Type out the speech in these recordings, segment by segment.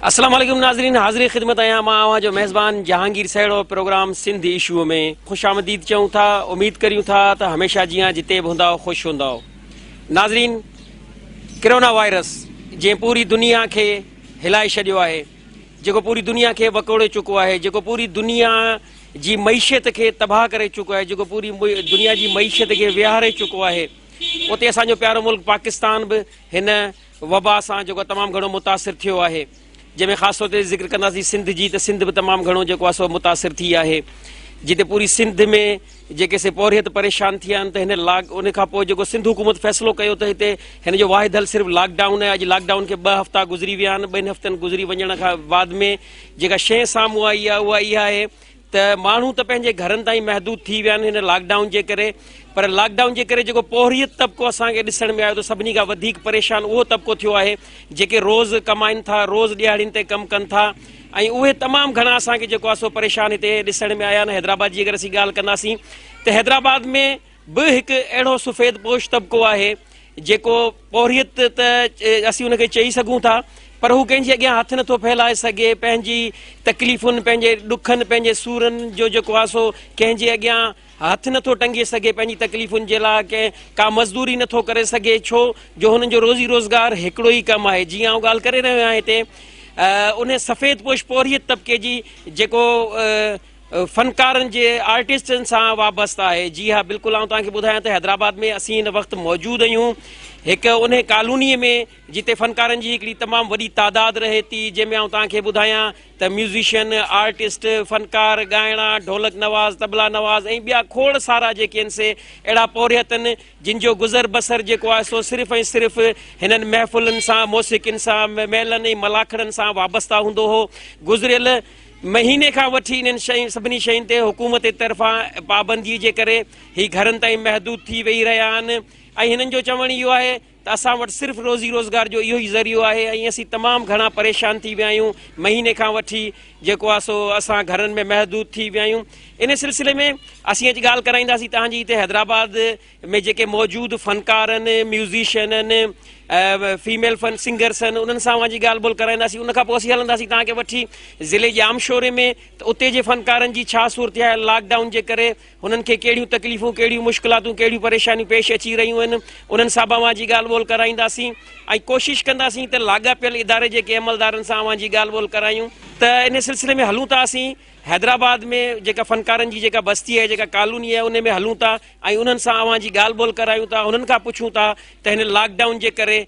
السلام عليڪم ناظرين حاضري خدمت آهيان مان اوهان جو ميزبان جهانگير سهڙو پروگرام سنڌ ايشو ۾ خوش آمديد چئون ٿا اميد ڪريون ٿا ته هميشه جيان جتي به هوندا خوش هوندا ناظرين ڪرونا وائرس جنهن پوري دنيا کي هلائي ڇڏيو آهي جيڪو پوري دنيا کي وڪوڙي چڪو آهي، جيڪو پوري دنيا جي معيشت کي تباهه ڪري چڪو آهي، جيڪو پوري دنيا جي معيشت کي ويهاري چڪو آهي، اتي اسان جو پيارو ملڪ پاڪستان به هن وبا سان جيڪو آهي تمام گهڻو متاثر ٿيو آهي، جنهن ۾ خاص طور تي ذڪر ڪنداسين سنڌ جي ته سنڌ به تمام گهڻو جيڪو آهي سو متاثر ٿي آهي، جتي پوري سنڌ ۾ جيڪي سي پورهيت پريشان ٿي ويا آهن ته هن لاڪ ان کان پوء جيڪو سنڌ حڪومت فيصلو ڪيو ته هتي هن جو واحد حل صرف لاڪ ڊائون آهي اڄ لاڪ ڊائون کي ٻه هفتا گذري ويا آهن ٻن هفتن گذري وڃڻ کان بعد ۾ جيڪا شي سامهون آئي آهي اها اها آهي ته ماڻهو ته پنهنجي گهرن تائين محدود ٿي ويا آهن هن لاڪ ڊائون جي ڪري پر لاڪ ڊائون جي ڪري جيڪو پورهيت طبقو اسان کي ڏسڻ ۾ آيو ته سڀني کان وڌيڪ پريشان اهو طبقو ٿيو آهي جيڪي روز ڪمائن ٿا روز ڏيهاڙين تي ڪم ڪن ٿا ۽ اهي تمام گهڻا اسان کي جيڪو آهي سو پريشان هتي ڏسڻ ۾ آيا آهن حيدرآباد جي اگر اسين ڳالهه ڪنداسين ته حيدرآباد ۾ به هڪ اهڙو سفيد پوش طبقو آهي جيڪو پورهيت ته اسين ان کي چئي سگهون ٿا پر هو ڪنهن جي اڳيان هٿ نٿو ڦهلائي سگهي پنهنجي تڪليفن پنهنجي ڏکن پنهنجي سورن جو جيڪو آهي سو ڪنهن جي اڳيان هٿ نٿو ٽنگي سگهي، پنهنجي تڪليفن جي لاء ڪنهن ڪا مزدوري نٿو ڪري سگهي، ڇو جو هنن جو روزي روزگار هڪڙو ئي ڪم آهي. جيئن آئون ڳالهه ڪري رهيو آهيان هتي انهي سفيد پوش پورهيت طبقي جي جيڪو فنڪارن جي آرٽسٽن سان وابسته آهي. جي ها بلڪل آئون توهان کي ٻڌايان ته حيدرآباد ۾ اسين هن وقت موجود اهيون هڪ انهي ڪالوني ۾ جتي فنڪارن جي هڪڙي تمام وڏي تعداد رهي ٿي جنهن ۾ آئون توهان کي ٻڌايان ته ميوزيشن، آرٽسٽ، فنڪار، ڳائڻا، ڍولڪ نواز، طبلا نواز ۽ ٻيا کوڙ سارا جيڪي آهن سي اهڙا پورهيتن جن جو گذر بسر جيڪو آهي سو صرف ۽ صرف هنن محفلن سان، موسيقين سان، ميلن ۽ ملاکڙن سان وابسته هوندو هو. گذريل مهيني کان وٺي انهن شين سڀني شين تي حڪومت جي طرفان پابندي جي ڪري هي گهرن تائين محدود ٿي ويهي رهيا آهن ۽ هنن جو چوڻ اهو آهي ته اسان وٽ صرف روزي روزگار جو اهو ئي ذريعو آهي ۽ اسين تمام گهڻا پريشان ٿي ويا آهيون مهيني کان وٺي جيڪو آهي سو اسان گهرن ۾ محدود ٿي ويا آهيون ان سلسلي ۾ اسين اڄ ڳالهه ڪرائينداسين تهان جي هتي حيدرآباد ۾ جيڪي موجود فنڪار آهن ميوزيشن آهن فيميل فن سنگرس آهن انهن سان اوهان جي ڳالهه ٻولهه ڪرائينداسين ان کان پوء اسين هلنداسين تهان کي وٺي ضلعي ڄامشوري ۾ ته اتي جي فنڪارن جي ڇا صورتحال لاڪ ڊائون جي ڪري هنن کي ڪهڙيون تڪليفون، ڪهڙيون مشڪلاتون، ڪهڙيون پريشانيون پيش اچي رهيون آهن، انهن سان به اوهان جي ڳالهه ٻولهه ڪرائينداسين ۽ ڪوشش ڪنداسين ته لاڳاپيل اداري جي ڪي عملدارن سان اوهان جي ڳالهه ٻولهه ڪرايون ته ان سلسلي ۾ هلون ٿا اسين حيدرآباد ۾ جيڪا فنڪارن جي جيڪا بستي آهي جيڪا ڪالوني آهي ان ۾ هلون ٿا ۽ انهن سان اوهان جي ڳالهه ٻولهه ڪرايون ٿا انهن کان پڇون ٿا ته هن لاڪ ڊائون جي ڪري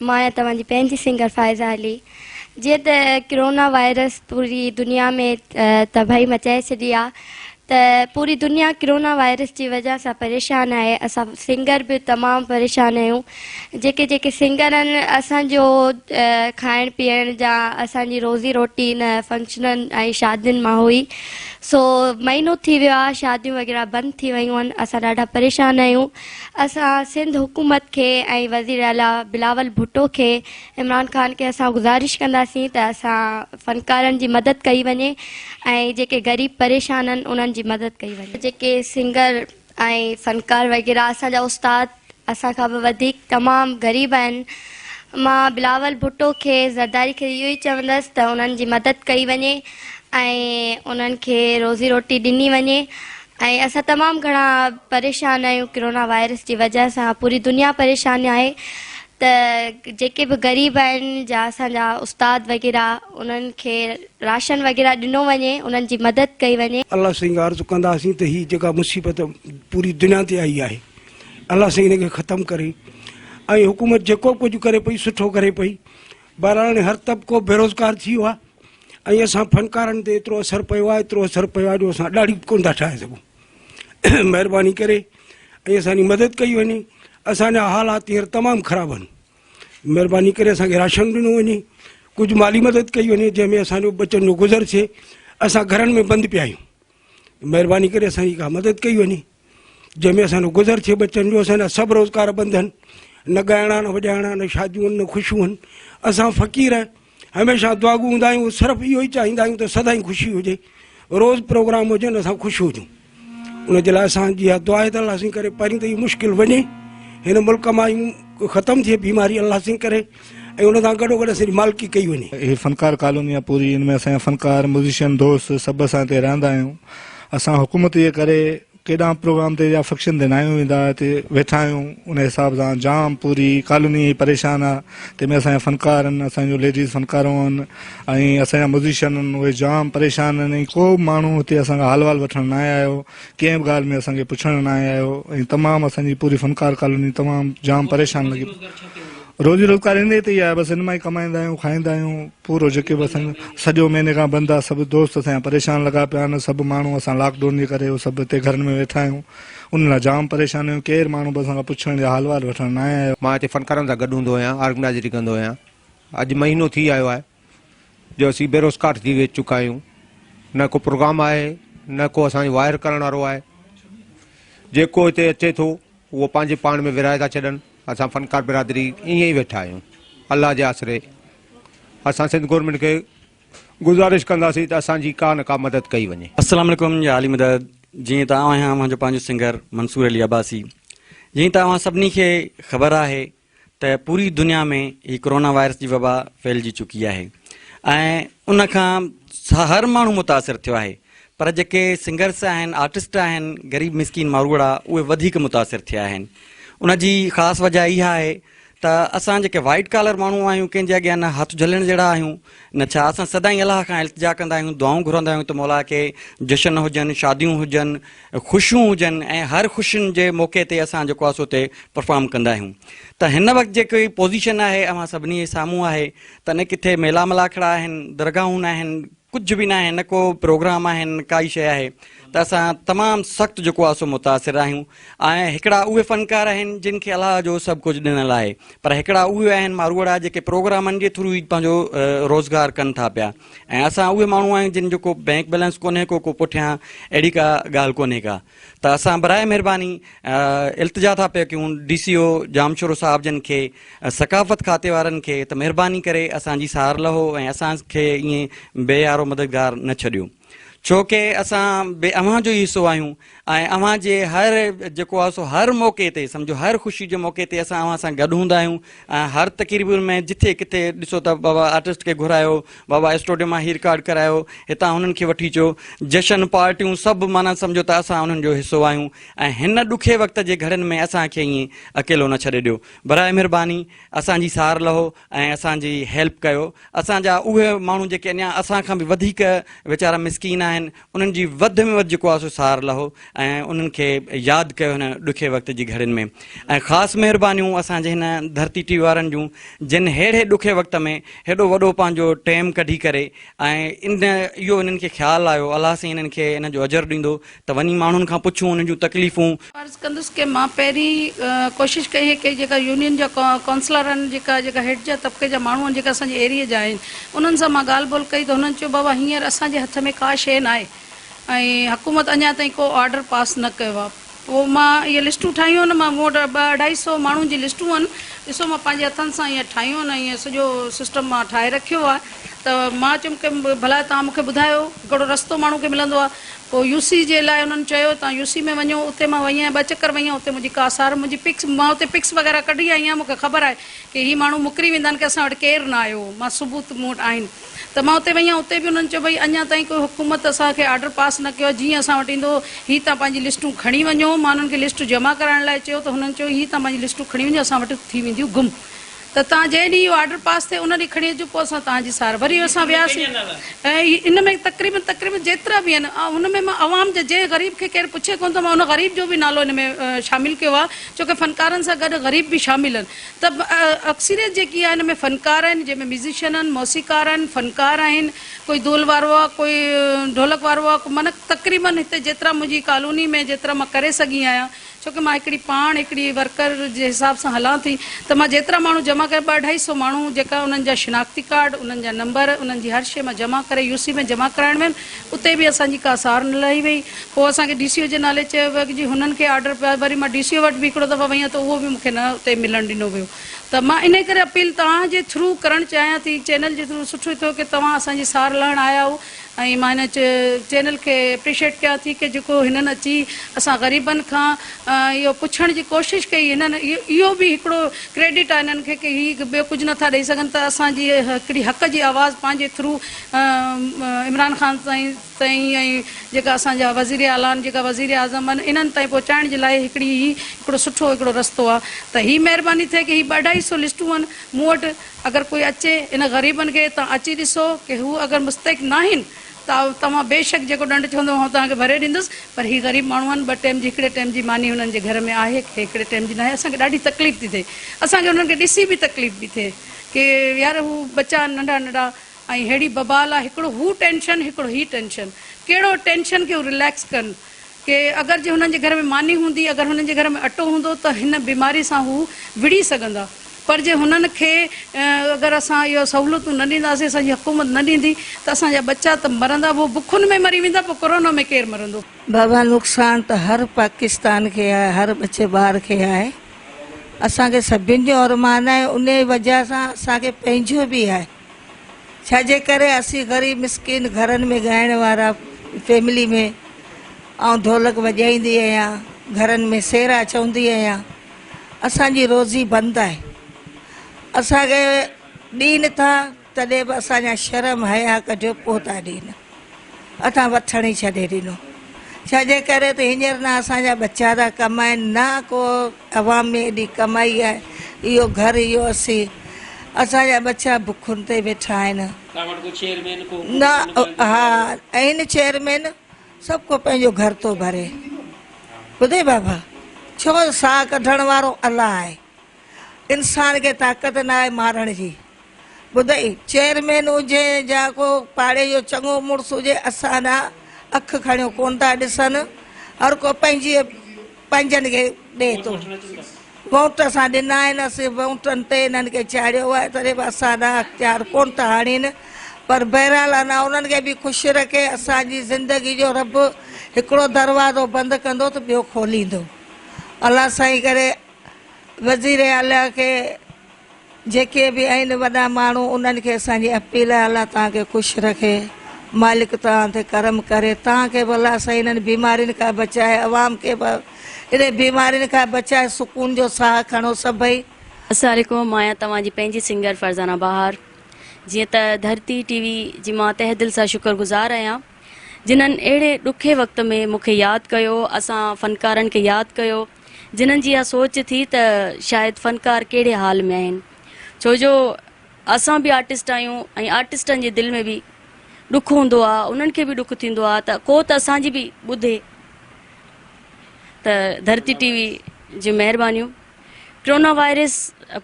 مان آهيان توهان جي پنهنجي سنگر فائزه علي. جيئن ته ڪرونا وائرس پوري دنيا ۾ تباهي مچائي ڇڏي آ ته پوري دنيا ڪرونا وائرس جي وجه سان پريشان آهي اسان سنگر به تمام پريشان آهيون جيڪي جيڪي سنگر آهن اسان جو کائڻ پيئڻ جا اسان جي روزي روٽي ان فنڪشنن ۽ شادين مان هئي سو مهينو ٿي ويو آ شاديون وغيره بند ٿي ويون آهن اسان ڏاڍا پريشان آهيون اسان سنڌ حڪومت کي ۽ وزير اعليٰ بلاول ڀٽو کي عمران خان کي اسان گذارش ڪنداسين ته اسان فنڪارن جي مدد ڪئي وڃي ۽ جيڪي غريب پريشان آهن انهن جي مدد ڪئي وڃي. جيڪي سنگر ۽ فنڪار وغيره اسان جا استاد اسان کان به وڌيڪ تمام غريب آهن مان بلاول ڀٽو کي زرداري کي اهو ئي چوندس ته انهن جي مدد ڪئي وڃي ۽ انهن کي روزي روٽي ڏني وڃي ۽ اسان تمام گهڻا پريشان آهيون ڪرونا وائرس جي وجه سان پوري دنيا پريشان آهي ته جيڪي به غريب آهن جا اسان جا استاد وغيره انهن کي راشن وغيره ڏنو وڃي انهن جي مدد ڪئي وڃي. الله سائين کان عرض ڪنداسين ته هي جيڪا مصيبت پوري دنيا تي آئي آهي الله سائين ان کي ختم ڪري ۽ حڪومت جيڪو به ڪجهه ڪري پئي سٺو ڪري پئي. بهرحال هر طبقو بيروزگار ٿي ويو آهي ۽ اسان فنڪارن تي ايترو اثر پيو آهي ايترو اثر پيو آهي جو اسان ڏاڙهي به ڪونه ٿا ٺاهي سگهون مهرباني ڪري ۽ اسان جي مدد ڪئي وڃي اسان جا حالات هينئر تمام خراب آهن مهرباني ڪري اسان کي راشن ڏنو وڃي ڪجهه مالي مدد ڪئي وڃي جنهن ۾ اسان جو ٻچن جو گذر ٿئي اسان گهرن ۾ بند پيا آهيون مهرباني ڪري اسان جي ڪا مدد ڪئي وڃي جنهن ۾ اسان جو گذر ٿئي ٻچن جو اسان جا سڀ روزگار بند آهن نه ڳائڻا نه وڄائڻا نه شاديون آهن نه خوشيون آهن اسان فقير هميشه دعاگو هوندا آهيون صرف اهو ئي چاهيندا آهيون ته سدائين خوشي هجي روز پروگرام هجن اسان خوش هجون ان جي لاء اسان جي اها دعا ته الله سائين ڪري پرين ته هي مشڪل وڃي هن ملڪ مان ختم ٿئي بيماري الله سائين ڪري ۽ ان سان گڏو گڏ اسان جي مالڪي ڪئي وڃي. هي فنڪار ڪالوني آ پوري ان ۾ اسان جا فنڪار ميوزيشن دوست سڀ اسان هتي رهندا آهيون اسان حڪومت جي ڪري ڪيڏانهن پروگرام تي يا فڪشن تي ناهيون ويندا هتي ويٺا آهيون ان حساب سان جام پوري ڪالوني هي پريشان آ تنهن ۾ اسان جا فنڪار ان اسان جو ليڊيز فنڪارون ان ۽ اسان جا ميوزيشن ان اهي جام پريشان ان ۽ ڪو به ماڻهو هتي اسان کان حال وال وٺڻ ناهي آيو ڪنهن به ڳالهه ۾ اسان کي پڇڻ ناهي آيو ۽ تمام اسان جي پوري فنڪار ڪالوني تمام جام پريشان لڳي روزي روزگار انهيء تي ئي آهي، بس ان مان ئي ڪمائيندا آهيون، کائيندا آهيون، پورو جيڪي به اسان سڄو مهيني کان بند آهي، سڀ دوست اسان جا پريشان لڳا پيا آهن، سڀ ماڻهو اسان لاڪ ڊون جي ڪري سڀ هتي گهرن ۾ ويٺا آهيون، ان لاء جام پريشان آهيون، ڪير ماڻهو به اسان کان پڇڻ يا حال وحال وٺڻ ناهي آيو. مان هتي فنڪارن سان گڏ هوندو آهيان، آرگنائزري ڪندو آهيان، اڄ مهينو ٿي آيو آهي، جو اسين بيروزگار ٿي ويھي چڪا آھيون نه ڪو پروگرام آھي نه ڪو اسان جي واير ڪرڻ وارو آھي جيڪو ھتي اچي ٿو اھو پنھنجي پاڻ ۾ ورھائي ٿا ڇڏن اسان فنڪار برادري ائين ئي ويٺا آھيون الله جي آسري اسان سنڌ گورنمينٽ کي گزارش ڪنداسين ته اسان جي ڪا نه ڪا مدد ڪئي وڃي السلام عليڪم يا عالي مدد جيئن ته آئون آهيان اوهان جو پنهنجو سنگر منصور علي عباسي جيئن ته اوهان سڀني کي خبر آهي ته پوري دنيا ۾ هي ڪورونا وائرس جي وبا ڦهلجي چڪي آهي ۽ ان کان هر ماڻهو متاثر ٿيو آهي پر جيڪي سنگرس آهن آرٽسٽ آهن غريب مسڪين ماروئڙا اهي وڌيڪ متاثر ٿيا آهن ان جي خاص وجه اها آهي ته اسان جيڪي وائيٽ ڪالر ماڻهو آهيون ڪنهن جي اڳيان نه هٿ جهلڻ جهڙا آهيون نه ڇا اسان سدائين الله کان التجا ڪندا آهيون، دعائون گهرندا آهيون ته مولا ڪي جشن هجن، شاديون هجن، خوشيون هجن ۽ هر خوشين جي موقعي تي اسان جيڪو آهي سو اتي پرفارم ڪندا آهيون ته هن وقت جيڪي پوزيشن آهي اوهان سڀني جي سامهون آهي ته نه ڪٿي ميلا ملاکڙا آهن، درگاهون آهن، ڪجهه به ناهي نه ڪو پروگرام آهن نه ڪائي شيء آهي. ته اسان تمام سخت جيڪو آسو متاثر آهيون ۽ هڪڙا اهي فنڪار آهن جن کي الله جو سڀ ڪجهه ڏنل آهي پر هڪڙا اهي آهن ماروئڙا جيڪي پروگرامن جي ٿرو ئي پنهنجو روزگار ڪن ٿا پيا ۽ اسان اهي ماڻهو آهيون جن جو ڪو بينڪ بيلنس ڪونهي ڪو ڪو پٺيان اهڙي ڪا ڳالهه ڪونهي ڪا ته اسان برائي مهرباني التجا ٿا پيا ڪيون ڊي سي او ڄامشورو صاحب جن کي ثقافت کاتي وارن کي ته مهرباني ڪري اسان جي سار لهو ۽ اسان کي ائين بي يارو مددگار نه ڇڏيو ڇو ڪي اسان به اوهان جو ئي حصو آهيون ۽ اوهان جي هر جيڪو آهي سو هر موقعي تي سمجهو هر خوشي جي موقعي تي اسان اوهان سان گڏ هوندا آهيون ۽ هر تقريبن ۾ جٿي ڪٿي ڏسو ته بابا آرٽسٽ کي گهرايو بابا اسٽوڊيو مان هي رڪارڊ ڪرايو هتان هنن کي وٺي اچو جشن پارٽيون سڀ معنيٰ سمجهو ته اسان انهن جو حصو آهيون ۽ هن ڏکي وقت جي گهڙين ۾ اسان کي ائين اڪيلو نه ڇڏي ڏيو برائي مهرباني اسان جي سار لهو ۽ اسان جي هيلپ ڪيو اسان جا اهي ماڻهو جيڪي اڃان اسان کان به وڌيڪ ويچارا مسڪين آهن انهن جي وڌ ۾ وڌ جيڪو آهي سو سار لهو ۽ انهن کي ياد ڪيو هن ڏکي وقت جي گهڙين ۾ ۽ خاص مهربانيون اسان جي هن ڌرتي ٽي وي وارن جون جن ههڙي ڏکي وقت ۾ هيڏو وڏو پنهنجو ٽيم ڪڍي ڪري ۽ ان اهو انهن کي خيال آيو الله سائين انهن کي ان جو اجر ڏيندو ته وڃي ماڻهن کان پڇون انهن جون تڪليفون. عرض ڪندس ڪه مان پهرين ڪوشش ڪئي هي ڪه جيڪا يونين جا ڪونسلر آهن جيڪا جيڪا هيٺ جا طبقي جا ماڻهو آهن جيڪا اسان جي ايريي جا آهن انهن سان مان ڳالهه ٻولهه ڪئي ته هنن چيو بابا هينئر اسان جي هٿ ۾ ڪا شيء ناهي ۽ حڪومت اڃان تائين ڪو آرڊر پاس نه ڪيو آهي پوء مان اهي لسٽون ٺاهيون آهن مان مون وٽ ٻه اڍائي سئو ماڻهن جي لسٽون آهن ڏسو مان پنهنجي هٿن سان هيئن ٺاهيون آهن ۽ سڄو سسٽم مان ٺاهي رکيو آهي ته مان چيم ڪه ڀلا توهان مون کي ٻڌايو ڪهڙو رستو ماڻهو کي ملندو آهي پوء يو سي جي لاء انهن چيو تان يو سي ۾ وڃو اتي مان وئي آهيان ٻه چڪر وئي آهيان اتي منهنجي ڪا سار منهنجي پڪس مان اتي پڪس وغيره ڪڍي آئي آهيان مون کي خبر آهي ڪي هي ماڻهو مڪري ويندا آهن ڪي اسان وٽ ڪير نه آيو مان ثبوت مون وٽ آهن ته مان اتي وئي آهيان اتي به انهن چيو ڀئي اڃان تائين ڪوئي حڪومت اسان کي آرڊر پاس نه ڪيو آهي جيئن اسان وٽ ايندو هي تان پنهنجي لسٽون کڻي وڃو مان انهن کي لسٽون جمع ڪرائڻ لاء چيو ته هنن چيو هي تان پنهنجي لسٽون کڻي وڃو اسان وٽ ٿي وينديون گم ته تان جنهن ڏينهن اهو آرڊر پاس ٿئي ان ڏينهن کڻي اچجو پوء اسان تان جي سار وري اسان وياسين ۽ ان ۾ تقريبن تقريبن جيترا به آهن آئون ان ۾ مان عوام جا جنهن غريب کي ڪير پڇي ڪونه ٿو مان ان غريب جو به نالو ان ۾ شامل ڪيو آهي ڇو ڪه فنڪارن سان گڏ غريب به شامل آهن ته اڪثريت جيڪي آهي ان ۾ فنڪار آهن جنهن ۾ ميوزيشن آهن موسيقار آهن فنڪار آهن ڪوئي دول وارو آهي ڪوئي ڍولڪ وارو آهي معنيٰ تقريبن هتي جيترا منهنجي ڪالوني ۾ جيترا مان ڪري سگهي آهيان ڇو ڪه مان هڪڙي پاڻ هڪڙي ورڪر جي حساب سان هلان ٿي ته مان جيترا ماڻهو جمع ڪيا ٻه اڍائي سئو ماڻهو جيڪا انهن جا شناختي ڪارڊ انهن جا نمبر انهن جي هر شئي مان جمع ڪري يو سي ۾ جمع ڪرائڻ ويم اتي به اسان جي ڪا سار نه لهي وئي پوء اسان کي ڊي سي او جي نالي چيو ويو ته جي هنن کي آرڊر پيو آهي وري مان ڊي سي او وٽ به هڪڙو دفعو وئي هان ته اهو به مون کي نه اتي ملڻ ڏنو ويو ته مان انهي ڪري اپيل توهان جي ٿرو ڪرڻ چاهيان ٿي چينل جي ٿرو سٺو ٿيو ڪه توهان اسان جي سار لهڻ آيا آهو ۽ مان هن چينل کي اپريشيٽ ڪيان ٿي ڪي جيڪو هنن اچي اسان غريبن کان اهو پڇڻ جي ڪوشش ڪئي هنن اهو به هڪڙو ڪريڊٽ آهي هنن کي ڪي هي ٻيو ڪجهه نه ٿا ڏئي سگهن ته اسان جي هڪڙي حق جي آواز پنهنجي ٿرو عمران خان سائين تائين ۽ جيڪا اسان جا وزير اعليٰ آهن جيڪا وزير اعظم آهن انهن تائين پهچائڻ جي لاء هڪڙي هي هڪڙو سٺو هڪڙو رستو آهي ته هي مهرباني ٿئي ڪي هي ٻه اڍائي سو لسٽون آهن مون وٽ اگر ڪوئي اچي انهن غريبن کي تان اچي ڏسو ڪي هو اگر مستحق ناهن ته توهان بيشڪ جيڪو ڏنڊ چوندو آئون توهان کي ڀري ڏيندس پر هي غريب ماڻهو آهن ٻه ٽيم جي هڪڙي ٽيم جي ماني هنن جي گهر ۾ آهي ڪي هڪڙي ٽيم جي ناهي اسان کي ڏاڍي تڪليف ٿي ٿئي اسان کي انهن کي ڏسي به تڪليف پي ٿئي ڪي يار هو ٻچا آهن ننڍا ننڍا ۽ ههڙي ببال آهي هڪڙو هو ٽينشن هڪڙو هي ٽينشن ڪهڙو ٽينشن کي هو رليڪس ڪن. ڪي اگر جي هنن جي گهر ۾ ماني هوندي، اگر هنن جي گهر ۾ اٽو هوندو ته هن بيماري سان هو وڙهي سگهندا، پر جي هنن کي اگر اسان اهي سهولتون نه ڏينداسين، اسان جي حڪومت نه ڏيندي ته اسان جا ٻچا ته مرندا به بکن ۾ مري ويندا پوء ڪورونا ۾ ڪير مرندو. بابا نقصان ته هر پاڪستان کي آهي، هر ٻچي ٻار کي آهي، اسان کي سڀني جو ارمان آهي، انهي وجهه سان اسان کي پنهنجو به آهي، ڇا جي ڪري اسين غريب مسڪين گهرن ۾ ڳائڻ وارا فيملي ۾ آئون ڍولڪ وڄائيندي آهيان گهرن ۾ سيرا چوندي آهيان اسان جي روزي بند آهي اسان کي ڏين ٿا تڏهن به اسان جا شرم حيا ڪڍيو پوء ٿا ڏين اتان وٿڻ ئي ڇڏي ڏنو ڇاجي ڪري ته هينئر نه اسان جا ٻچا ٿا ڪمائين نه ڪو عوام ۾ ايڏي ڪمائي آهي اهو گهر اهو اسي اسان جا ٻچا بکن تي ويٺا آهن توهان وٽ ڪو چيئرمين ڪو نه ها آهن چيئرمين سڀ ڪو پنهنجو گهر ٿو ڀري ٻڌئي بابا ڇو ساهه ڪڍڻ وارو الله آهي انسان کي طاقت ناهي مارڻ جي. ٻڌئي چيئرمين هجي جا ڪو پاڙي جو چڱو مڙس هجي اسان ڏانهن اک کڻيو ڪونه ٿا ڏسن هر ڪو پنهنجي پنهنجن کي ڏئي ٿو ووٽ اسان ڏنا آهن اسين ووٽن تي انهن کي چاڙهيو آهي تڏهن به اسان ڏانهن اختيار ڪونه ٿا آڻين پر بهرحال انا انهن کي به خوش رکي اسان جي زندگي جو رب هڪڙو دروازو بند ڪندو ته ٻيو کوليندو الله سائين ڪري وزيراعليٰ کي جيڪي به آهن وڏا ماڻهو انهن کي اسان جي اپيل آهي الله توهان کي خوش رکي مالڪ توهان تي ڪرم ڪري توهان کي به الله سائين انهن بيمارين کان بچائي عوام کي به انهن بيمارين کان بچائي سڪون جو ساهه کڻو سڀئي السلام عليڪم مان آهيان توهان جي پنهنجي سنگر فرزانه بهار جيئن ته ڌرتي ٽي وي جي مان تهه دل سان شڪر گذار آهيان جنھن اهڙي ڏکي وقت ۾ مونکي ياد ڪيو اسان فنڪارن کي ياد ڪيو جنھن جي اھا سوچ ٿي ته شايد فنڪار ڪهڙي حال ۾ آهن ڇو جو اسان به آرٽسٽ آهيون ۽ آرٽسٽن جي دل ۾ به ڏک هوندو آ انهن کي به ڏک ٿيندو آ ته ڪو ته اسان جي به ٻڌي ته ڌرتي ٽي وي جون مهربانيون. ڪرونا وائرس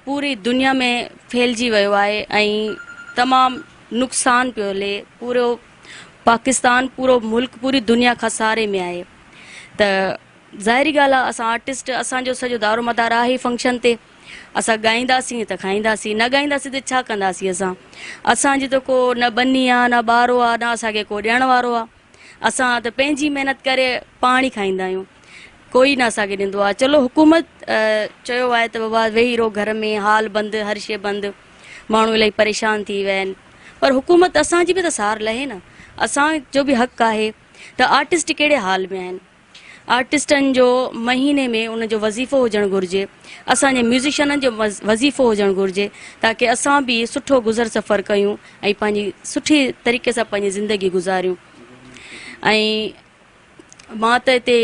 پوري دنيا ۾ ڦهلجي ويو آهي ۽ تمام نقصان پيو لي پورو پاڪستان پورو ملڪ پوري دنيا کان ساري ۾ آهي ته ظاهري ڳالهه آ اسان آرٽسٽ اسان جو سڄو دارو مدار آهي فنڪشن تي اسان ڳائينداسين ته کائينداسين نه ڳائينداسين ته ڇا ڪنداسين اسان اسان جي ته ڪو نه ٻني آ نه ٻارو آ نه اسان کي ڪو ڏيڻ وارو آ اسان ته پنهنجي محنت ڪري پاڻ ئي کائيندا آهيون ڪوئي نه اسان کي ڏيندو آ چلو حڪومت چيو آهي ته بابا ويهي رهو گهر ۾ هال بند هر شي بند ماڻهو الاهي پريشان ٿي ويا آهن پر حڪومت اسان جي به ته سار لهي نه اسان جو به حق آهي ته آرٽسٽ ڪهڙي حال ۾ آهن آرٽسٽن جو مهيني ۾ ان جو وظيفو هجڻ گهرجي، اسان جي ميوزيشنن جو وظيفو هجڻ گهرجي تاڪه اسان به سٺو گذر سفر ڪيون ۽ پنهنجي سٺي طريقي سان پنهنجي زندگي گذاريون ۽ مان ته هتي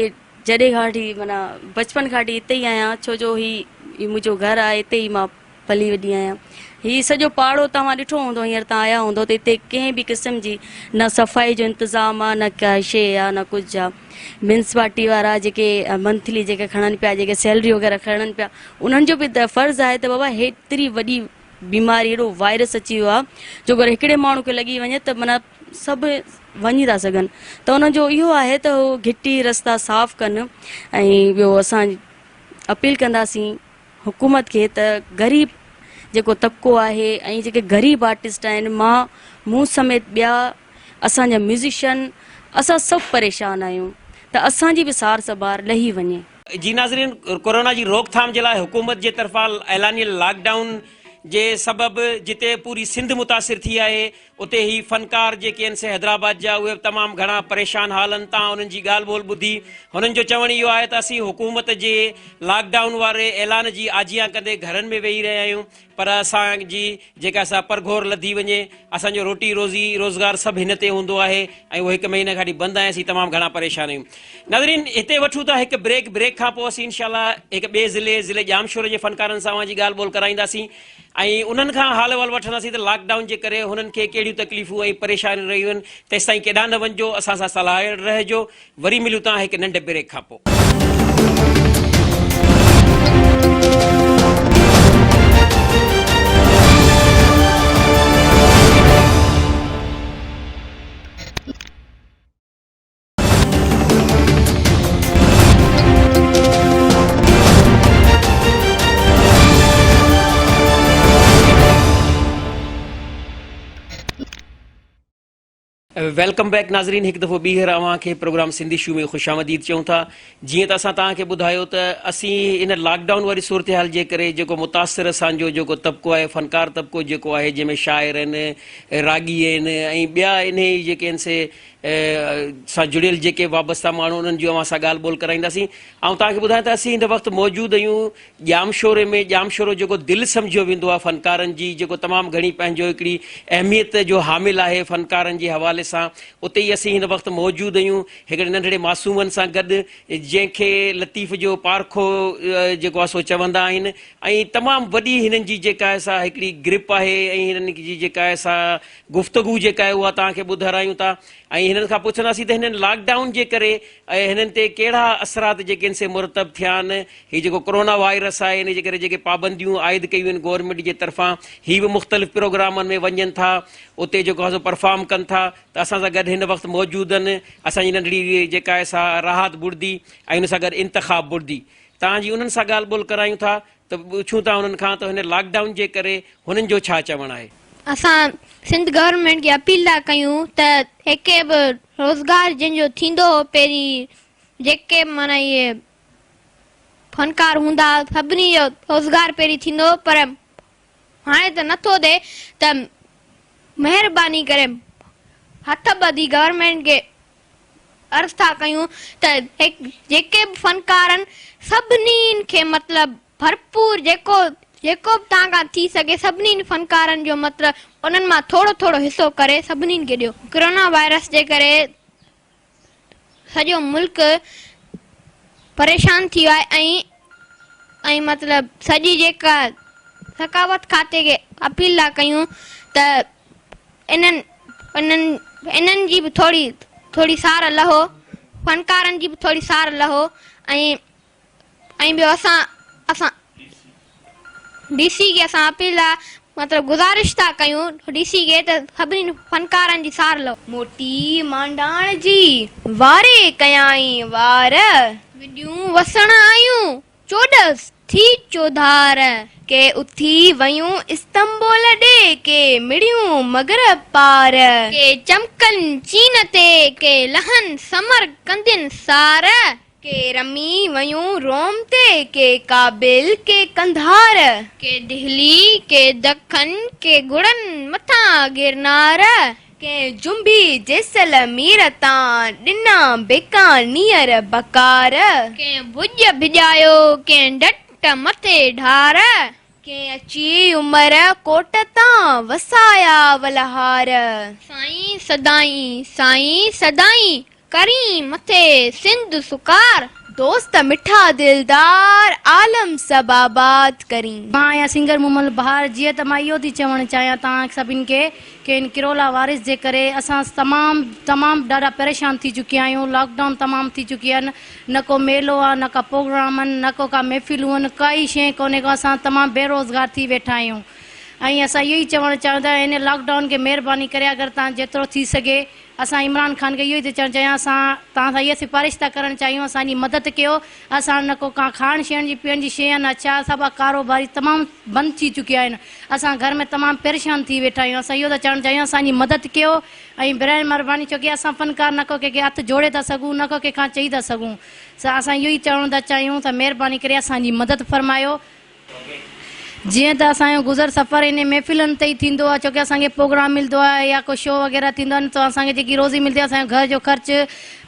جڏهن کان وٺي معنيٰ بچپن کان وٺي هتي ئي آهيان ڇو جو هي منهنجو گهر آهي هتي ئي مان پلي وڏي آهيان. هي سڄو پاڙو توهان ڏٺو هوندو هينئر تان آيا هوندو ته هتي ڪنهن به قسم جي نه صفائي جو انتظام آ نه ڪا شيء آ نه ڪجهه آ. ميونسپالٽي وارا جيڪي منٿلي جيڪي کڻن پيا جيڪي سيلري وغيره کڻن پيا انهن جو به فرض آهي ته بابا هيتري وڏي بيماري هيڏو وائرس اچي ويو آ جو اگر هڪڙي ماڻهو کي لڳي وڃي ته معنيٰ سڀ وڃي ٿا سگهن ته انهن جو اهو آهي ته هو گهٽي رستا صاف ڪن ۽ ٻيو اسان اپيل ڪنداسين حڪومت کي ته غريب جيڪو طبقو آهي ۽ جيڪي غريب آرٽسٽ آهن مان مون سميت ٻيا اسان جا ميوزيشن اسان سڀ پريشان آهيون ته اسان جي به سار سنڀار لهي وڃي. جي ناظرين ڪورونا جي روڪٿام جي لاء حڪومت جي طرفان اعلانيه لاڪ ڊائون جي سبب جتي پوري سنڌ متاثر ٿي آهي اتي هي فنڪار جيڪي هن سين حيدرآباد جا اهي به تمام گهڻا پريشان حالن تان انهن جي ڳالهه ٻولهه ٻڌي هنن جو چوڻ اهو آهي ته اسين حڪومت جي لاڪ ڊائون واري اعلان جي آجيان ڪندي گهرن ۾ ويهي رهيا آهيون پر اسان جي جيڪا سا پرگهور لڌي وڃي اسان جو روٽي روزي روزگار سڀ هن تي هوندو آهي ۽ اهو هڪ مهيني کاٽي بند آهي اسين تمام گهڻا پريشان آهيون ناظرين هتي وٺون ٿا هڪ بريڪ بريڪ کان پوء اسين انشاء الله هڪ ٻئي ضلعي ضلعي ڄامشوري جي فنڪارن سان اوهان جي ڳالهه ٻولهه ڪرائينداسين ۽ انهن کان حال احوال وٺنداسين ته لاڪ ڊائون جي ڪري هنن کي ڪهڙيون تڪليفون ۽ پريشانيون رهيون آهن، تيستائين ڪيڏانهن نه وڃجو، اسان سان صلاحيل رهجو، وري ملون ٿا هڪ ننڍ بريڪ کان پوء. ويلڪم بيڪ ناظرين هڪ دفعو ٻيهر اوهان کي پروگرام سنڌي شو ۾ خوش آمديد چئون ٿا جيئن ته اسان توهان کي ٻڌايو ته اسين ان لاڪ ڊائون واري صورتحال جي ڪري جيڪو متاثر اسان جو جيڪو طبقو آهي فنڪار طبقو جيڪو آهي جنهن ۾ شاعر آهن راڳي آهن ۽ ٻيا انهي جيڪي آهن سي سان جڙيل جيڪي وابسته ماڻهو انهن جي اوهان سان ڳالهه ٻولهه ڪرائينداسين آئون توهان کي ٻڌايان ته اسين هن وقت موجود اهيون ڄامشوري ۾ ڄامشورو جيڪو دل سمجهيو ويندو آهي فنڪارن جي جيڪو تمام گهڻي پنهنجو هڪڙي اهميت جو حامل آهي فنڪارن جي حوالي سان اتي ئي اسين هن وقت موجود اهيون هڪڙي ننڍڙي معصومن سان گڏ جنهن کي لطيف جو پارکو جيڪو آهي سو چوندا آهن ۽ تمام وڏي هنن جي جيڪا آهي سا هڪڙي گرپ آهي ۽ هنن جي جيڪا آهي سا گفتگو جيڪا آهي اها توهان کي ٻڌارايون ٿا ۽ هنن کان پڇنداسين ته هنن لاڪ ڊائون جي ڪري هنن تي ڪهڙا اثرات جيڪي آهن سي مرتب ٿيا آهن هي جيڪو ڪورونا وائرس آهي ان جي ڪري جيڪي پابنديون عائد ڪيون آهن گورنمينٽ جي طرفان هي به مختلف پروگرامن ۾ وڃن ٿا اتي جيڪو آهي سو پرفارم ڪن ٿا ته اسان سان گڏ هن وقت موجود آهن اسان جي ننڍڙي جيڪا آهي سا راحت بڙدي ۽ ان سان گڏ انتخاب بڙدي توهان جي انهن سان ڳالهه ٻولهه ڪرايون ٿا ته پڇون ٿا هنن کان ته هن لاڪ ڊائون جي ڪري هنن جو ڇا چوڻ آهي. اسان سنڌ گورنمينٽ کي اپيل ٿا ڪيون ته ايڪي به روزگار جن جو ٿيندو هو پهرين جيڪي به معنيٰ اهي فنڪار هوندا سڀني جو روزگار پهرين ٿيندو هو پر هاڻي ته نه ٿو ٿئي ته مهرباني ڪري هٿ ٻڌي گورنمينٽ کي عرض ٿا ڪيون ته جيڪي به فنڪارن سڀني کي مطلب ڀرپور جيڪو جيڪو به توهان کان ٿي سگهي سڀني فنڪارن جو مطلب انهن مان ٿورو ٿورو حصو ڪري سڀني کي ڏيو. ڪرونا وائرس جي ڪري سڄو ملڪ پريشان ٿي ويو آهي ۽ مطلب سڄي جيڪا ثقافت کاتي کي اپيل ٿا ڪيون ته. انهن انهن جي به ٿوري ٿوري سار لهو، فنڪارن جي به ٿوري سار لهو ۽ ۽ ٻيو اسان اسان ڊي سي کي اسان اپيل لا مطلب گذارش ٿا ڪيون ڊي سي کي ته سڀني فنڪارن جي سار لهو. موٽي مانڊاڻ جي واري ڪيائين وار. وڏيون وسڻ آيون چوڏس ٿي چوڌار ڪي اٿي ويون استنبول ڏي ڪي مڙيون مغرب پار. ڪي چمڪن چين تي ڪي لهن سمرقندين سار. ڪي رمي ويون روم تي ڪي ڪابل ڪي قنڌار. ڪي دهلي ڪي دکن ڪي گهوڙن مٿان گرنار. ڪنهن جنبي جيسلمير تان، ڏنا بيڪانير بڪار. ڪنهن ڀڄ ڀڄايو، ڪنهن ڊٽ مٿي ڍار. ڪنهن اچي عمر ڪوٽ تان، وسايا ولهار. سائين سدائين، سائين سدائين، ڪرين مٿي سنڌ سڪار. دوست مٺا دلدار عالم سڀ آباد ڪرين. مان آهيان سنگر مومل بهار جيئن ته مان اهو ٿي چوڻ چاهيان توهان سڀني کي ڪي هن ڪرولا وائرس جي ڪري اسان تمام تمام ڏاڍا پريشان ٿي چڪيا آهيون لاڪ ڊائون تمام ٿي چڪي آهن نه ڪو ميلو آهي نه ڪا پروگرام آهن نه ڪو ڪا محفلون آهن ڪائي شئي ڪونهي ڪو اسان تمام بي روزگار ٿي ويٺا آهيون ۽ اسان اهو ئي چوڻ چاهيون ٿا هن لاڪ ڊائون کي مهرباني ڪري اگر تان جيترو ٿي سگهي اسان عمران خان کي اهو ئي ٿي چوڻ چاهيون اسان توهان سان اها سفارش ٿا ڪرڻ چاهيون اسان جي مدد ڪيو اسان نه ڪو ڪا کاڻ شيڻ جي پيڻ جي شي يا نه اچار سا ٻا ڪاروباري تمام بند ٿي چڪيا آهن اسان گهر ۾ تمام پريشان ٿي ويٺا آهيون اسان اهو ٿا چوڻ چاهيون اسان جي مدد ڪيو ۽ براهي مهرباني ڇو ڪي اسان فنڪار نه ڪو ڪنهن کي هٿ جوڙي ٿا سگهون نه ڪو ڪنهن کان چئي ٿا سگهون سا اسان اهو ئي چوڻ ٿا چاهيون ته مهرباني ڪري اسان جي مدد فرمايو. جيئن ته اسان جو گذر سفر انهن محفلن تي ئي ٿيندو آهي ڇو ڪي اسان کي پروگرام ملدو آهي يا ڪو شو وغيره ٿيندو آهي نه ته اسان کي جيڪي روزي ملدي آهي اسان جو گهر جو خرچ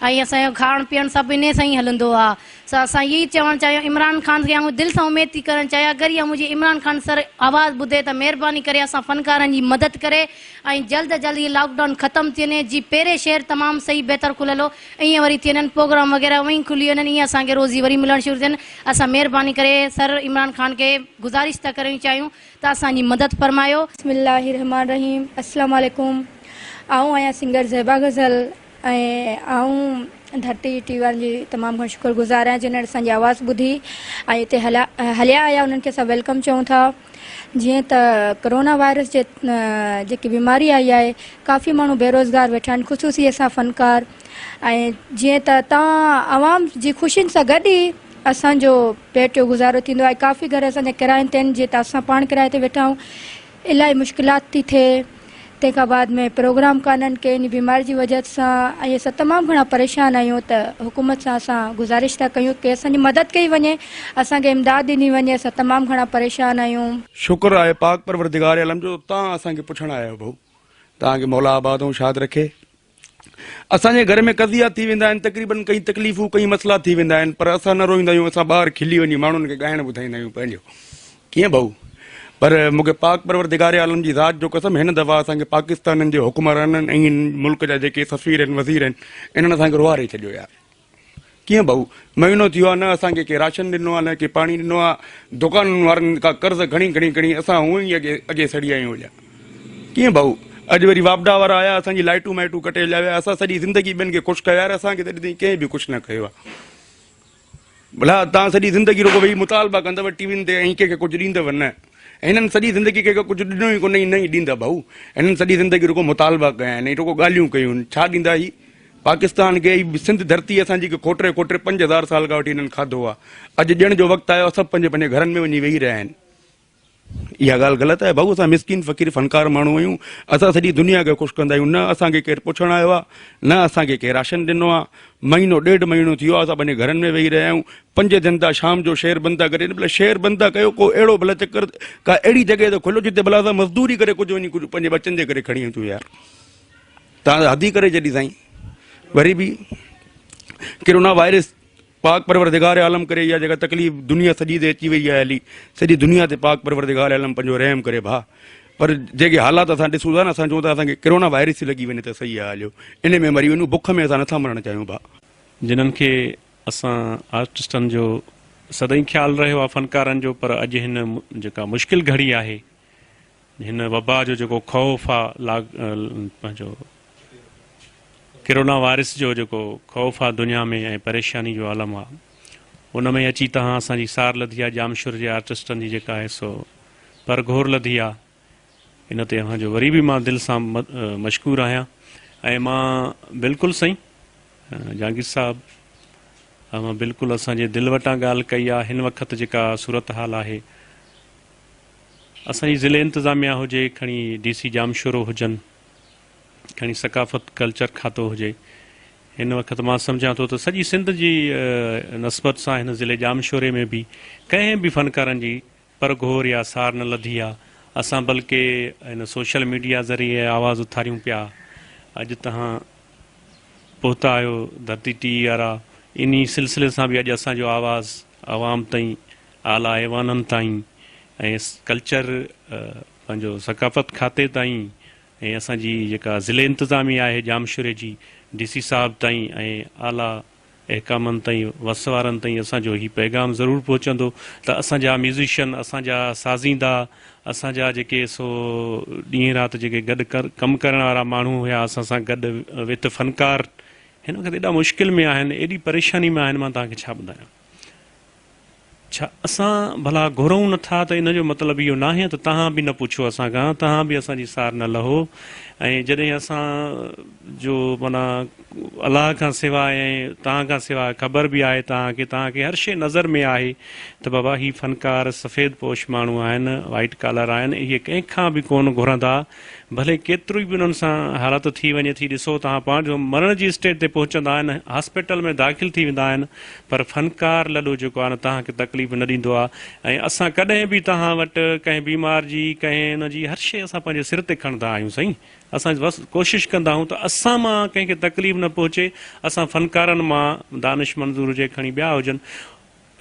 ۽ اسان جو کاڻ پيڻ سڀ انهي سان ئي هلندو آهي سو اسان اهي ئي چوڻ چاهيون عمران خان کي آئون دل سان اميد ٿي ڪرڻ چاهيان اگر اها منهنجي عمران خان سر آواز ٻڌي ته مهرباني ڪري اسان فنڪارن جي مدد ڪري ۽ جلد جلد هي لاڪ ڊائون ختم ٿي وڃي جي پيري شهر تمام صحيح بهتر کليل هو ائين وري ٿي وڃن پروگرام وغيره اوهين ئي کلي وڃن ائين اسان کي روزي وري ملڻ شروع ٿين اسان مهرباني ڪري سر عمران خان کي گذارش ٿا ڪريون چاهيون ته اسان جي مدد فرمايو. بسم الله الرحمٰن الرحيم اسلام عليڪم آئون آهيان سنگر زيبا غزل ۽ آئون ڌرتي ٽي وي وارن جي تمام گهڻو شڪر گذار آهيان جنھن اسان جي آواز ٻڌي ۽ هتي هليا آيا انھن کي اسان ويلڪم چئون ٿا جيئن ته ڪرونا وائرس جي جيڪي بيماري آئي آهي ڪافي ماڻهو بيروزگار ويٺا آهن خصوصي اسان فنڪار ۽ جيئن ته تان عوام جي خوشين سان گڏ ئي اسان جو پيٽ جو گزارو ٿيندو آهي ڪافي گهر اسان جا ڪراين تي آهن جيئن ته اسان پاڻ ڪرايي تي ويٺا آهيون الاهي مشڪلات ٿي ٿئي تنهن کان بعد ۾ پروگرام ڪانهن ڪي انهي بيماري جي وجهت سان ۽ اسان تمام گهڻا پريشان آهيون ته حڪومت سان اسان گذارش ٿا ڪيون ڪي اسان جي مدد ڪئي وڃي اسان کي امداد ڏني وڃي اسان تمام گهڻا پريشان آهيون. شڪر آهي پاڪ پرورڌگار عالم جو تان اسان کي پڇڻ آيا آهيو ڀئو تان کي مولا آباد ۽ شاد رکي اسان جي گهر ۾ قضيا ٿي ويندا آهن، تقريبن ڪئين تڪليفون، ڪئين مسئلا ٿي ويندا آهن، پر اسان نه روئيندا آهيون، اسان ٻاهر کلي وڃي ماڻهن کي ڳائڻ ٻڌائيندا آهيون پنهنجو. ڪيئن ڀائو؟ پر مون کي پاڪ پرورڌگار عالم جي ذات جو قسم هن دفعا اسان کي پاڪستانن جي حڪمرانن ۽ هن ملڪ جا جيڪي سفير آهن، وزير آهن، انهن اسان کي روئاري ڇڏيو يار. ڪيئن ڀائو؟ مهينو ٿي ويو آهي، نه اسان کي ڪنهن راشن ڏنو آهي، نه ڪنهن پاڻي ڏنو آهي. دڪانن وارن کان قرض کڻي کڻي کڻي اسان هونئن ئي اڳي اڳي سڙي ويا آهيون اجا. ڪيئن ڀائو؟ اڄ وري واپڊا وارا آيا، اسان جي لائٽون مائٽون ڪٽي هليا ويا. اسان سڄي زندگي ٻين کي خوش ڪيو آهي، يار اسان کي ته اڄ تائين ڪنهن به خوش نه ڪيو آهي. ڀلا توهان سڄي زندگي رڳو ويهي مطالبا ڪندؤ ٽي وين تي ۽ ڪنهن کي ڪجهه ڏيندؤ نه. هنن سڄي زندگي ڪنهن کي ڪجهه ڏنو ئي ڪونهي ۽ نه ئي ڏيندا ڀائو. هنن سڄي زندگي رڳو مطالبا ڪيا آهن ۽ رڳو ڳالهيون ڪيون آهن. ڇا ڏيندا هي؟ پاڪستان کي هي سنڌ ڌرتي اسان جي کوٽري کوٽري پنج هزار سال کان وٺي هنن کاڌو آ اڄ ڏيڻ جو وقت آيو سڀ پنهنجي پنهنجي گهرن ۾ وڃي ويهي رهيا آهن اها ڳالهه غلط آهي بھو اسان مسڪين فقير فنڪار ماڻهو آهيون اسان سڄي دنيا کي خوش ڪندا آهيون نه اسان کي ڪير پڇڻ آيو آهي نه اسان کي ڪير راشن ڏنو آهي مهينو ڏيڍ مهينو ٿيو آهي اسان پنهنجي گهرن ۾ ويهي رهيا آهيون پنج ٿين ٿا شام جو شهر بند ٿا ڪري بلا شهر بند ٿا ڪيو ڪو اهڙو بلا چڪر ڪا اهڙي جڳهه ته کلو جتي بلا اسان مزدوري ڪري ڪجهه وڃي ڪجهه پنهنجي ٻچن جي ڪري کڻي اچون يار تان حدي ڪري جڏي سائين وري به ڪرونا وائرس پاڪ پروردگار عالم ڪري يا جيڪا تڪليف دنيا سڄي تي اچي وئي آهي هلي سڄي دنيا تي پاڪ پروردگار عالم پنهنجو رحم ڪري ڀا پر جيڪي حالات اسان ڏسون ٿا نه اسان چون ٿا اسان کي ڪرونا وائرس ٿي لڳي وڃي ته صحيح آهي هليو ان ۾ مري وڃون بک ۾ اسان نٿا مرڻ چاهيون ڀا جنن کي اسان آرٽسٽن جو سدائين خيال رهيو آهي فنڪارن جو پر اڄ هن جيڪا مشڪل گهڙي آهي هن وبا جو جيڪو خوف آ پنهنجو ڪرونا وائرس جو جيڪو خوف آ دنيا ۾ ۽ پريشاني جو عالم آ ان ۾ اچي تهان اسان جي سار لڌي آ ڄامشور جي آرٽسٽن جي جيڪا آهي سو پر گهور لڌي آ ان تي اوهان جو وري به مان دل سان مشڪور آهيان ۽ مان بلڪل سائين جهانگير صاحب اوهان بلڪل اسان جي دل وٽان ڳالهه ڪئي آ هن وقت جيڪا صورتحال آهي اسان جي ضلعي انتظاميا هجي کڻي ڊي سي ڄامشورو هجن کڻي ثقافت ڪلچر کاتو هجي هن وقت مان سمجهان ٿو ته سڄي سنڌ جي نسبت سان هن ضلعي ڄامشوري ۾ به ڪنهن به فنڪارن جي پرگهور يا سار نه لڌي آ اسان بلڪه هن سوشل ميڊيا ذريعي آواز اٿاريون پيا اڄ تهان پهتا آهيو ڌرتي ٽي وي وارا انهي سلسلي سان به اڄ اسان جو آواز عوام تائين اعليٰ ايوانن تائين ۽ ڪلچر پنهنجو ثقافت کاتي تائين ۽ اسان جي جيڪا ضلعي انتظاميه آهي ڄامشوري جي ڊي سي صاحب تائين ۽ اعليٰ احڪامن تائين وس وارن تائين اسان جو هي پيغام ضرور پهچندو ته اسان جا ميوزيشن اسان جا سازيندا اسان جا جيڪي سو ڏينهن رات جيڪي گڏ ڪم ڪرڻ وارا ماڻهو هيا اسان سان گڏ وٿ فنڪار هن وقت ايڏا مشڪل ۾ آهن ايڏي پريشاني ۾ آهن مان توهان کي ڇا ٻڌايان. ڇا اسان ڀلا گهرئون نه ٿا ته ان جو مطلب اهو ناهي ته توهان به نه پڇو اسان کان، توهان به اسان جي سار نه لهو ۽ جڏهن اسان جو معنيٰ الله کان سواء ۽ توهان کان سواء خبر به آهي توهان کي، توهان کي هر شيء نظر ۾ آهي ته بابا هي فنڪار سفيد پوش ماڻهو آهن، White Collar، آهن، اهي ڪنهن کان به ڪونه گهرندا ڀلي ڪيترو ئي به انهن سان حالت ٿي وڃي ٿي ڏسو توهان پاڻ جو مرڻ جي اسٽيج تي پهچندا آهن هاسپيٽل ۾ داخل ٿي ويندا آهن پر فنڪار لڏو جيڪو آهي نه توهان کي تڪليف نه ڏيندو آهي ۽ اسان ڪڏهن به توهان وٽ ڪنهن بيمار جي ڪنهن ان جي هر شي اسان پنهنجي سر تي کڻندا آهيون سائين اسان بس ڪوشش ڪندا آهيون ته اسان مان ڪنهن کي تڪليف نه پهچي اسان فنڪارن مان دانش منظور هجي کڻي ٻيا هجن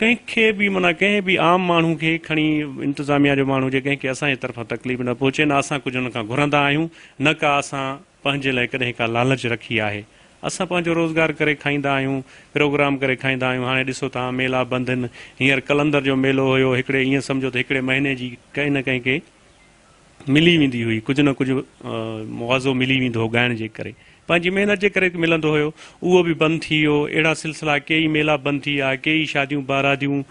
ڪنهن کي به معنيٰ ڪنهن به عام ماڻهو کي کڻي انتظاميا جو ماڻهو هجي ڪنهن کي اسان جي طرفان تڪليف نه پهچي نه اسان ڪجهه هن کان گهرندا آهيون نه ڪا اسان پنهنجي لاء ڪڏهن ڪا لالچ رکي آهي اسان پنهنجو روزگار ڪري کائيندا آهيون پروگرام ڪري کائيندا آهيون هاڻي ڏسو توهان ميلا بند هن هينئر قلندر جو ميلو هيو هڪڙي ايئن سمجهو ته هڪڙي مهيني جي ڪنهن نه ڪنهن کي ملي ويندي هئي، ڪجهه نه ڪجهه مواضعو ملي ويندو هو، ڳائڻ جي ڪري پنهنجي محنت جي ڪري ملندو هيو، اهو به بند ٿي ويو، اهڙا سلسلا ڪيئي ميلا بند ٿي ويا، ڪيئي شاديون باراديون،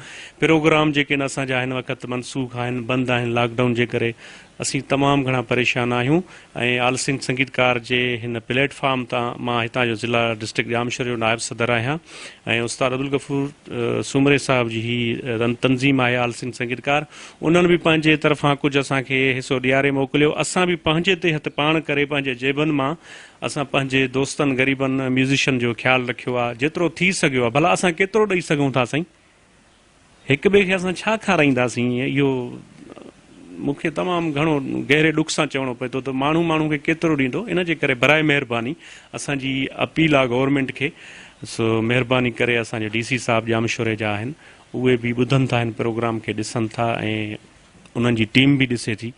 پروگرام جيڪي نه اسان جا هن وقت منسوخ آهن، بند آهن لاڪ ڊائون جي ڪري، اسين تمام گهڻا پريشان آهيون ۽ آل سنڌ سنگيت ڪار جي هن پليٽ فارم تان مان هتان جو ضلع ڊسٽرڪٽ ڄامشوري جو نائب صدر آهيان ۽ استاد عبدالغفور سومري صاحب جي هي تنظيم آهي آل سنڌ سنگيت ڪار انهن به پنهنجي طرفان ڪجهه اسان کي حصو ڏياري موڪليو. اسان به پنهنجي تي هٿ پاڻ ڪري پنهنجي جيبن مان اسان پنهنجي دوستن غريبن ميوزيشن جو خيال رکيو آ. جيترو ٿي سگهيو آ. ڀلا اسان ڪيترو ڏئي سگهون ٿا سائين؟ هڪ ٻئي کي اسان ڇا کارائينداسين؟ اهو مون کي تمام گهڻو گهري ڏک سان چوڻو پئي ٿو ته ماڻهو ماڻهو کي ڪيترو ڏيندو؟ ان جي ڪري براء مهرباني اسان جي اپيل آ گورنمينٽ کي سو مهرباني ڪري اسان جي ڊي سي صاحب ڄامشوري جا آهن اهي به ٻڌن ٿا هن پروگرام کي ڏسن ٿا ۽ انهن جي ٽيم به ڏسي ٿي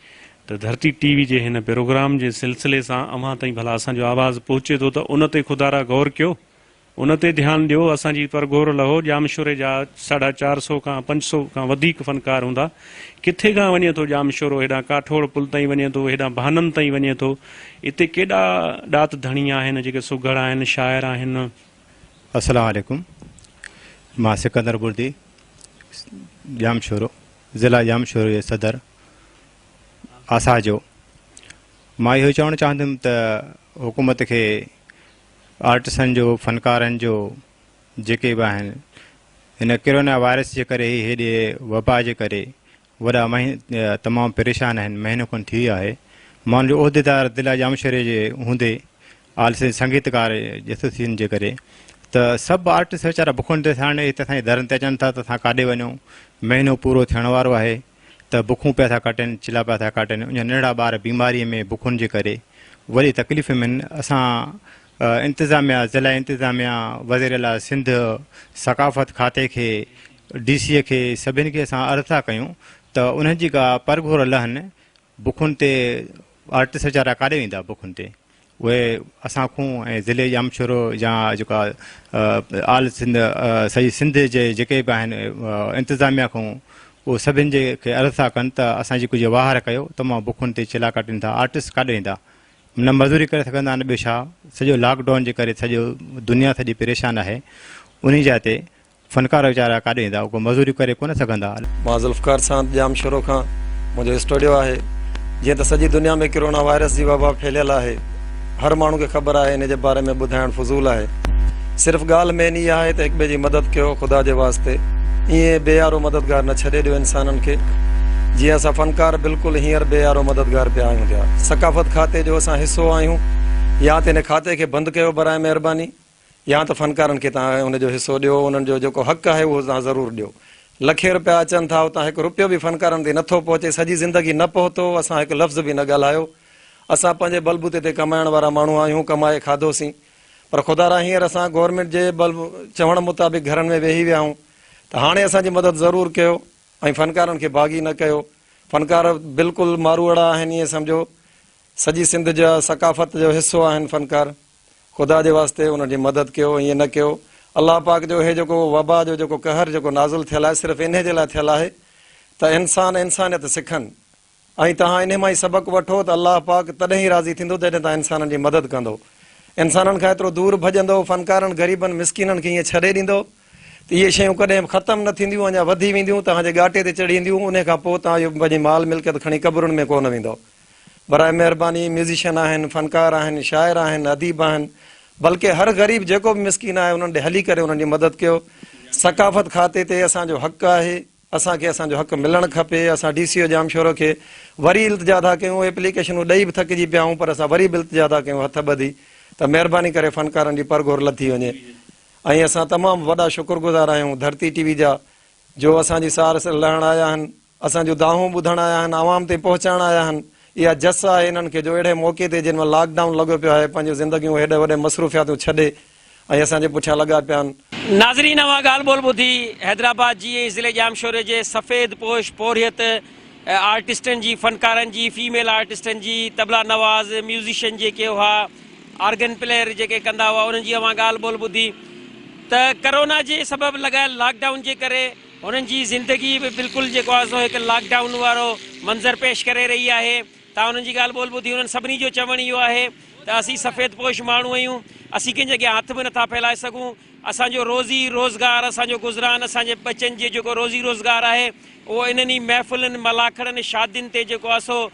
ته ڌرتي ٽي وي جي هن پروگرام جي سلسلي سان اوهان تائين ڀلا اسان جو آواز پهچي ٿو ته ان تي خدارا غور ڪيو ان تي ڌيان ڏيو اسان جي پرگهور لهو ڄامشوري جا ساڍا چار سو کان پنج سو کان وڌيڪ فنڪار هوندا ڪٿي کان وڃي ٿو ڄامشورو هيڏانهن ڪاٺوڙ پل تائين وڃي ٿو هيڏانهن ڀانن تائين وڃي ٿو اتي ڪيڏا ڏات ڌڻي آهن جيڪي سگهڙ آهن شاعر آهن السلام عليڪم مان سڪندر بردي ڄامشورو ضلع ڄامشورو جي صدر آسا جو مان اهو چوڻ چاهندم ته حڪومت کي آرٽسن جو فنڪارن جو جيڪي به آهن هن ڪرونا وائرس جي ڪري هيڏي وبا جي ڪري وڏا مهين تمام پريشان آهن، مهينو کن ٿي ويو آهي، مان جو عهديدار ضلع ڄامشوري جي هوندي آل سنڌ سنگيتڪار ايسوسيئن جي ڪري ته سڀ آرٽسٽ ويچارا بکن تي ساڻ هتي اسان جي درن تي اچن ٿا ته اسان ڪاڏي وڃون، مهينو پورو ٿيڻ وارو آهي ته بکون پيا ٿا ڪاٽين، چلها پيا ٿا ڪاٽين، اڃا ننڍڙا ٻار بيماري ۾ بکن جي ڪري وڏي تڪليف ۾ آهن، اسان انتظاميا، ضلعي انتظاميا، وزيراعليٰ سنڌ، ثقافت کاتي کي، ڊي سي اي کي سڀني کي اسان عرض ٿا ڪيون ته انهن جي ڪا پرگهور لهن بکن تي آرٽسٽ ويچارا ڪاڏي ويندا بکن تي اهي اسان کون ۽ ضلعي ڄام شورو يا جيڪا آل سنڌ سڄي سنڌ جي جيڪي به آهن انتظاميا کون اهو سڀني جي کي عرض ٿا ڪن ته اسان جي ڪجهه واهر ڪيو تمام بکن تي چلا ڪاٽين ٿا آرٽسٽ ڪاڏي ويندا نه مزوري ڪري سگهندا نه ٻيو ڇا سڄو لاڪ ڊائون جي ڪري سڄو دنيا سڄي پريشان آهي انهي جاء تي فنڪار ويچارا ڪاڏي ويندا اهو مزوري ڪري ڪونه سگهندا. مان ذوالفقار ساند ڄام شروع کان منهنجو اسٽوڊيو آهي جيئن ته سڄي دنيا ۾ ڪرونا وائرس جي وبا ڦهليل آهي هر ماڻهو کي خبر آهي انهي جي باري ۾ ٻڌائڻ فضول آهي صرف ڳالهه مين اها آهي ته هڪٻئي جي مدد ڪيو خدا جي واسطي ائين بي يارو مددگار نه ڇڏي ڏيو انسانن کي جيئن اسان فنڪار بلڪل هينئر بي يارو مددگار پيا آهيون جا ثقافت کاتي جو اسان حصو آهيون يا ته ان کاتي کي بند ڪيو براء مهرباني يا ته فنڪارن کي توهان ان جو حصو ڏيو انهن جو جيڪو حق آهي اهو توهان ضرور ڏيو لکين روپيا اچن ٿا اتان هڪ روپيو به فنڪارن تي نٿو پهچي سڄي زندگي نه پهتو اسان هڪ لفظ به نه ڳالهايو اسان پنهنجي بلبوتي تي ڪمائڻ وارا ماڻهو آهيون ڪمائي کاڌوسين پر خدا را هينئر اسان گورنمينٽ جي بلب چوڻ مطابق گهرن ۾ ويهي ويا آهون ته هاڻي اسان جي مدد ضرور ڪيو ۽ فنڪارن کي باغي نه ڪيو فنڪار بلڪل ماروئڙا آهن ائين سمجهو سڄي سنڌ جا ثقافت جو حصو آهن فنڪار خدا جي واسطي انهن جي مدد ڪيو ائين نه ڪيو الله پاڪ جو هي جيڪو وبا جو جيڪو قهر جيڪو نازل ٿيل آهي صرف انهي جي لاء ٿيل آهي ته انسان انسانيت سکن ۽ توهان انهي مان هي سبق وٺو ته الله پاڪ تڏهن ئي راضي ٿيندو جڏهن توهان انسانن جي مدد ڪندو. انسانن کان ايترو دور ڀڄندو، فنڪارن، غريبن، مسڪينن کي ائين ڇڏي ڏيندو ته اهي شيون ڪڏهن به ختم نه ٿينديون اڃا وڌي وينديون، توهان جي ڳاٽي تي چڙهي اينديون، انهي کان پوء توهان اهو پنهنجي مال ملڪيت کڻي قبرن ۾ ڪونه ويندؤ. براء مهرباني ميوزيشن آهن، فنڪار آهن، شاعر آهن، اديب آهن، بلڪه هر غريب جيڪو به مسڪين آهي انهن ڏي هلي ڪري انهن جي مدد ڪيو. ثقافت کاتي تي اسان جو حق آهي. اسان کي اسان جو حق ملڻ کپي، اسان ڊي سي او ڄامشورو کي وري التجا ٿا ڪيون، ايپليڪيشنون ڏئي به ٿڪجي پيا آهيون پر اسان وري به التجا ٿا ڪيون هٿ ٻڌي ته مهرباني ڪري فنڪارن جي پر گهور لٿي وڃي ۽ اسان تمام وڏا شڪر گذار آهيون ڌرتي ٽي وي جا جو اسان جي سار لهڻ آيا آهن، اسان جون دانهون ٻڌڻ آيا آهن، عوام تائين پهچائڻ آيا آهن، اها جس آهي انهن کي جو اهڙي موقعي تي جنهن مهل لاڪ ڊائون لڳو پيو آهي پنهنجون زندگيون هيڏي وڏي مصروفياتون ڇڏي، ۽ اسان جي پٺيان لڳا پيا آهن. ناظرين اوهان ڳالهه ٻولهه ٻڌي حيدرآباد جي ۽ ضلعي ڄامشوري جي سفيد پوش پورهيت آرٽسٽن جي فنڪارن جي فيميل آرٽسٽن جي طبلا نواز ميوزيشن جيڪي هئا آرگن پليئر جيڪي ڪندا هئا انهن جي اوهان ڳالهه ٻولهه ٻڌي ته ڪرونا جي سبب لڳايل لاڪ ڊائون جي ڪري هنن جي زندگي به بلڪل جيڪو آهي سو هڪ لاڪ ڊائون وارو منظر پيش ڪري رهي آهي تان انهن جي ڳالهه ٻولهه ٻڌي انهن سڀني جو چوڻ اهو آهي ته اسين سفيد پوش ماڻهو آهيون، اسين ڪنهن جي اڳيان هٿ به نٿا ڦهلائي سگهون، اسان جو روزي روزگار، اسان جو گذران، اسان جي ٻچن جي جيڪو روزي روزگار آهي اهو انهن ئي محفلن، ملاکڙن، شادين تي جيڪو آهي سو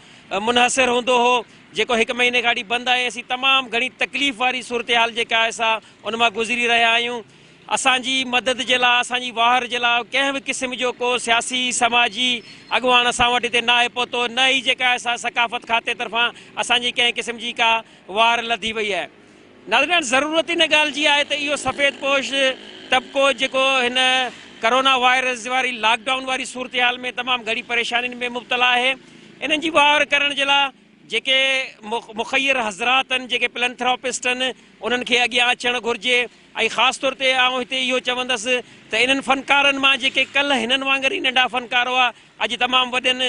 منحصر هوندو هو جيڪو هڪ مهيني کان وٺي بند آهي، اسين تمام گهڻي تڪليف واري صورتحال جيڪا آهي سا ان مان گذري رهيا آهيون. اسان جي مدد جي لاء، اسان جي واهر جي لاء ڪنهن به قسم جو ڪو سياسي، سماجي اڳواڻ اسان وٽ هتي ناهي پهتو، نه ئي جيڪا اسان ثقافت کاتي طرفان اسان جي ڪنهن قسم جي ڪا واهر لڌي وئي آهي. ناظرين ضرورت ان ڳالهه جي آهي ته اهو سفيد پوش طبقو جيڪو هن ڪرونا وائرس واري لاڪ ڊائون واري صورتحال ۾ تمام گهڻي پريشانين ۾ مبتلا آهي انهن جي واهر ڪرڻ جي لاء جيڪي مخير حضرات آهن جيڪي پلنٿراپسٽ آهن انهن کي اڳيان اچڻ گهرجي. ۽ خاص طور تي آئون هتي اهو چوندس ته انهن فنڪارن مان جيڪي ڪلهه هنن وانگر ئي ننڍا فنڪار هئا، اڄ تمام وڏن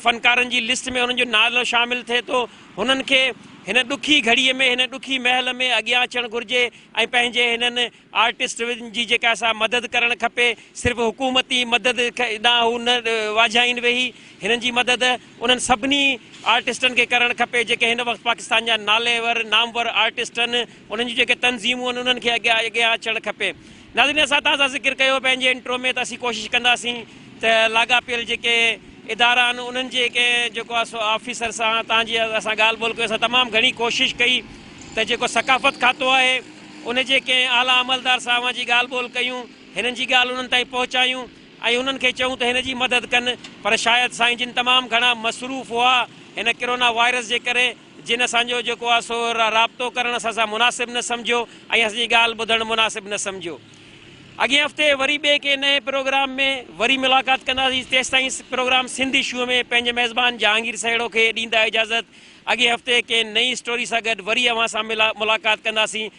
فنڪارن جي لسٽ ۾ هنن جو نالو شامل ٿئي ٿو، هنن کي هن ڏکي گهڙيء ۾ هن ڏکي مهل ۾ اڳيان اچڻ گهرجي ۽ پنهنجي هنن آرٽسٽن جي جيڪا سا مدد ڪرڻ کپي، صرف حڪومتي مدد ڏانهن هو نه واجهائين ويهي، هنن جي مدد انهن سڀني آرٽسٽن کي ڪرڻ کپي جيڪي هن وقت پاڪستان جا ناليور نامور آرٽسٽن انهن جون جيڪي تنظيمون آهن انهن کي اڳيان اڳيان اچڻ کپي. ناظرين اسان تازه ذڪر ڪيو پنهنجي انٽرو ۾ ته اسين ڪوشش ڪنداسين ته لاڳاپيل جيڪي ادارا آهن انهن جي ڪنهن جيڪو آهي سو آفيسر سان تان جي اسان ڳالهه ٻولهه ڪيو اسان تمام گهڻي ڪوشش ڪئي ته جيڪو ثقافت کاتو آهي ان جي ڪنهن اعليٰ عملدار سان اوهان جي ڳالهه ٻولهه ڪيون هنن جي ڳالهه انهن تائين پهچايون ۽ انهن کي چئون ته هن جي مدد ڪن پر شايد سائين جن تمام گهڻا مصروف هئا هن ڪرونا وائرس جي ڪري جن اسان جو جيڪو آهي سو رابطو ڪرڻ اسان سان مناسب نه سمجهيو ۽ اسان جي ڳالهه ٻڌڻ مناسب نه سمجهيو. اڳئين هفتي وري ٻئي ڪنهن نئين پروگرام ۾ وري ملاقات ڪنداسين تيستائين پروگرام سنڌ اشوء ۾ پنهنجي ميزبان جهانگير سهيڙو کي ڏيندا اجازت اڳئين هفتي ڪنهن نئين اسٽوري سان گڏ وري اوهان سان ملاقات ڪنداسين